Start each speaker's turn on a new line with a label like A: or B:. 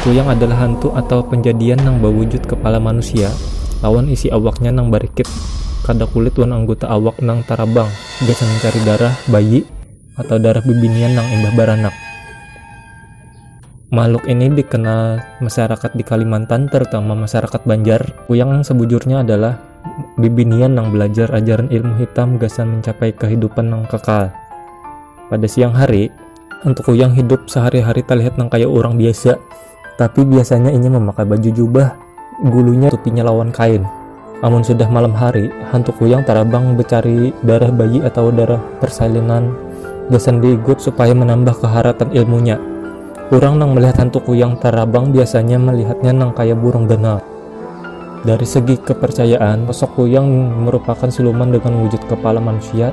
A: Kuyang adalah hantu atawa panjadian nang bawujud kapala manusia lawan isi awaknya nang barikit. Kada kulit wan angguta awak nang tarabang, gasan mancari darah bayi atawa darah bibinian nang imbah baranak. Makhluk ini dikenal masyarakat di Kalimantan, terutama masyarakat Banjar. Kuyang nang sabujurnya adalah bibinian nang balajar ajaran ilmu hitam gasan mancapai kahidupan nang kakal. Pada siang hari. Untuk Kuyang hidup sehari-hari terlihat nang kaya urang biasa, tapi biasanya inya memakai baju jubah, gulunya tupinya lawan kain. Amun sudah malam hari, hantu Kuyang tarabang becari darah bayi atawa darah persalinan gasan diigut supaya menambah keharatan ilmunya. Urang nang melihat hantu Kuyang tarabang biasanya melihatnya nang kaya burung ganal. Dari segi kepercayaan, sosok Kuyang merupakan siluman dengan wujud kepala manusia,